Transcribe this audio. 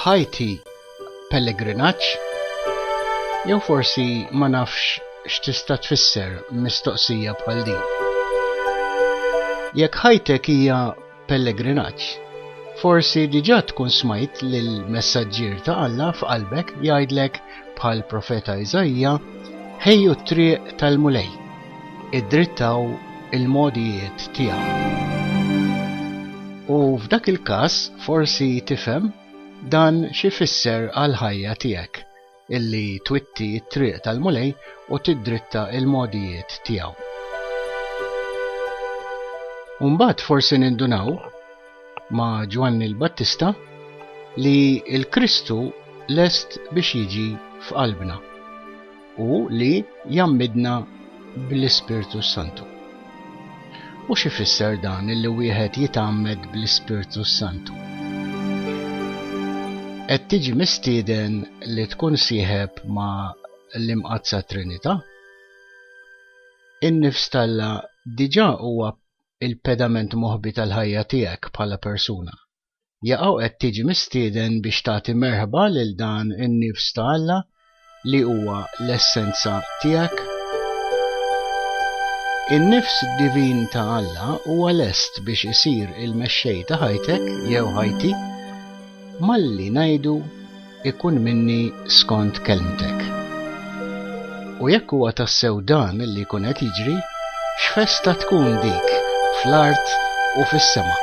ħajti pellegrinaġġ jew forsi ma nafx x'tista' tfisser mistoqsija bħal din. Jekk ħajtek hija pellegrinaġġ. Forsi diġà tkun smajt lill-messaġġier ta' Alla f'qalbek jgħidlek bħal profeta Iżaija, Ħejju t-triq tal-Mulej, iddrittaw il-mogħdijiet tiegħu. U f'dak il-każ forsi tifhem dan xi jfisser għall-ħajja tiegħek. illi twitti t-triq tal-Mulej u tiddritta l-mogħdijiet tiegħu. U mbagħad forsi nindunaw ma' Ġwanni l-Battista li l-Kristu lest biex jiġi f'qalbna u li jammidna bl-Ispirtu s-Santu. U xi fisser dan li wieħed jitgħammed bl-Ispirtu s-Santu? Qed tiġi mistieden li tkun sieħeb ma' l-Imqaddsa Trinità? In-nifs t'Alla diġà huwa l-pedament moħbi tal-ħajja tiegħek bħala persuna. jaqaw qed tiġi mistieden biex tagħti merħba lil dan in-nifs ta' Alla li huwa l-essenza tiegħek. In-nifs divin ta' Alla huwa lest biex isir il-mexxej ta' ħajtek jew ħajti malli ngħidu ikun minni skont kelmtek. U jekk huwa tassew dan li jkun qed jiġri, x'festa tkun dik fl-art u fis-sema!